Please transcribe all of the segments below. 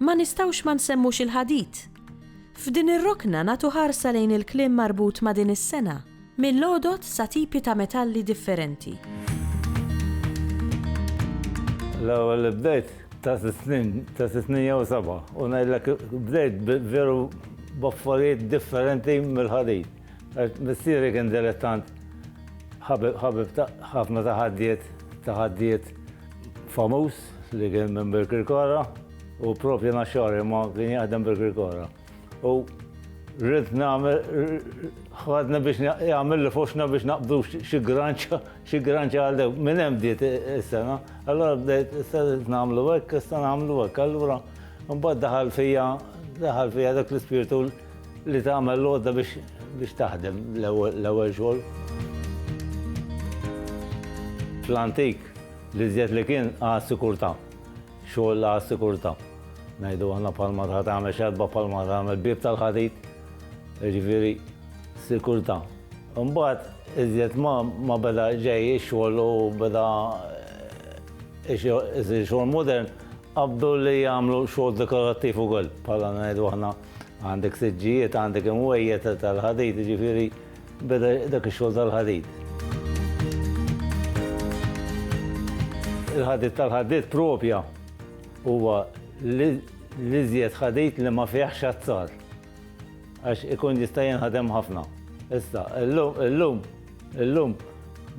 Ma nistgħux ma nsemmux il-ħadid. F'din ir-rokna nagħtu ħarsa lejn il-kliem marbut ma' din is-sena, mill-għodod sa tipi ta' metalli differenti. L-ewwel li bdejt ta' sitt snin, ta' sitt snin jew seba' u ngħidlek bdejt veru b'affarijiet differenti mill-ħadid. Għax missieri kien dilettant ħabib ta' ħafna ta' ħaddiet, ta' ħaddiet. famuż li kien minn Birkirkara u propju naxxari ma kien jaħdem Birkirkara. U rrid nagħmel ħadna biex jagħmel li foxna biex naqbdu xi granċa xi granċa għal dew. Minn hemm bdiet is-sena. Allura bdejt issa nagħmlu hekk, issa nagħmlu hekk. Allura mbagħad daħal fija daħal fija dak l-ispirtu Li tagħmel l-għodda biex taħdem l-ewwel xogħol. Fl-antik li żjed li kien għas sikurta xogħol għas sikurta Ngħidu għandna palma ta' tagħmel xerba palma ta' tagħmel bib tal-ħadid. Ġifieri sikurta Imbagħad iżjed ma beda ġej ix-xogħol u beda isir xogħol modern, qabdu li jagħmlu xogħol dekorattiv ukoll bħala ngħidu aħna. Għandek siġġijiet, għandek imwejjed tal-ħadid, jiġifieri beda dak ix-xogħol tal-ħadid. Il-ħadid tal-ħadid propja huwa l-iżjed ħadid li ma fihx azzar għax ikun jista' jinħadem ħafna. Issa, illum, illum,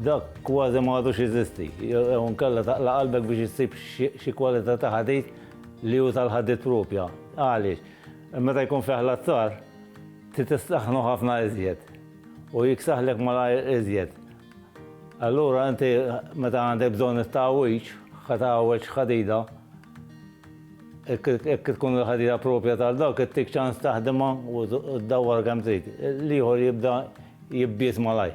dak kważi ma għadux jeżisti. Jew nkella taqla' qalbek biex issib xi kwalità ta' ħadid Li hu tal-ħaddied propja. Għaliex? Meta jkun fih l-azzar, trid issaħħnu ħafna iżjed. U jiksaħlek malajr iżjed. Allura inti meta għandek bżonn it-tgħawwiġ, ħa tgħawweġ ħadida, jekk tkun il-ħadida propja tal-dawk, ittik ċans taħdimha u ddawwar kemm trid. L-ieħor jibda jibbied malajr.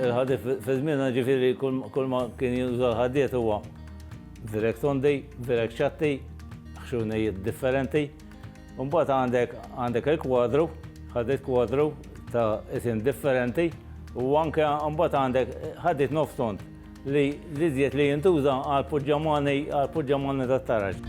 Il-ħadid fi żmienna ġifieri kull ma kien juża l-ħaddiet huwa virek tondi, virek ċatti, ħxunijiet differenti. Mbagħad għandek għandek il-kwadru, ħadid kwadru ta' isim differenti u anke mbagħad għandek ħadid nofs tond. Li l-iżjed li jintuża għal puġġamani għal puġġamani tat-taraġ.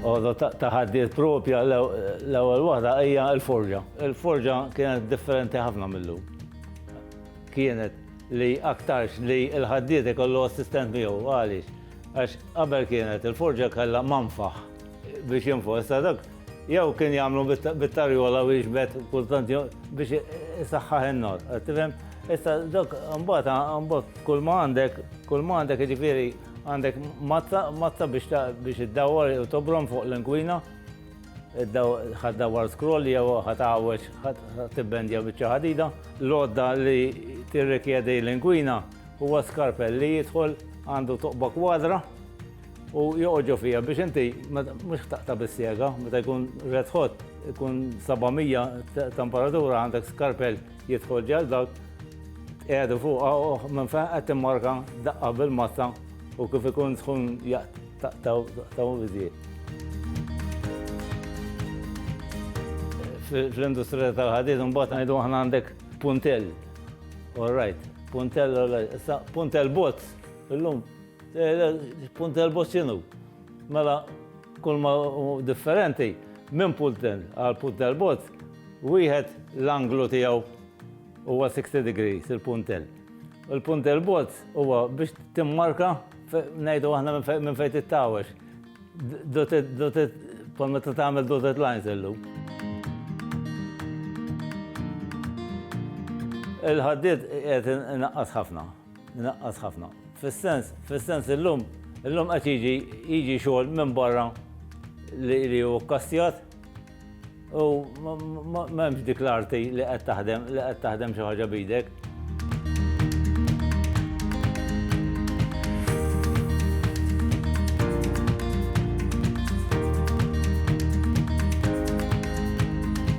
Għodu ta' ħaddiet propja l-ewwel waħda hija l-forġa. Il-forġa kienet differenti ħafna millu. Kienet li aktarx li l-ħaddiet ikollu assistent miegħu għaliex għax qabel kienet il-forġa kellha manfaħ biex jinfosta dak Jew kien jagħmlu bit-tarjola u jiġbed kultant biex isaħħaħ in-nar. Qed tifhem? Issa dok imbagħad imbagħad kull ma għandek, kull ma għandek jiġifieri għandek mazza, mazza biex biex iddawwar u tobrom fuq l-inkwina. Ħad dawwar scroll jew ħad għawweġ, ħad tibbendja biċċa ħadida. L-għodda li tirrikjedi l-inkwina huwa skarpell li jidħol għandu toqba kwadra. U joqgħodġu fija biex inti mhux taqta' bis-sjega, meta jkun red hot, ikun 700 temperatura għandek skarpel jidħol ġal dawk qiegħdu fuq oh, minn fejn qed timmarka daqqa bil-mazza u kif ikun sħun jaqtaw biżjed. Fl-industrija tal-ħadid mbagħad ngħidu aħna għandek puntell. All right, puntell, all right. Issa puntell bozz, illum Punt elbow x'inhu? Mela kull ma differenti minn pulten għal punt elbow wieħed l-anglu tiegħu huwa 60 degrees il-puntel. Il-punt elbow huwa biex timmarka ngħidu aħna minn fejn tittawex. Dotted, dotted, bħal meta tagħmel dotted lines illum. Il-ħaddiet qed inaqqas ħafna. Inaqqas ħafna. Fis-sens, fis-sens illum, illum qed jiġi jiġi xogħol minn barra li hu kkastjat u m'hemmx dik l-arti li qed taħdem li qed taħdem xi ħaġa bidek.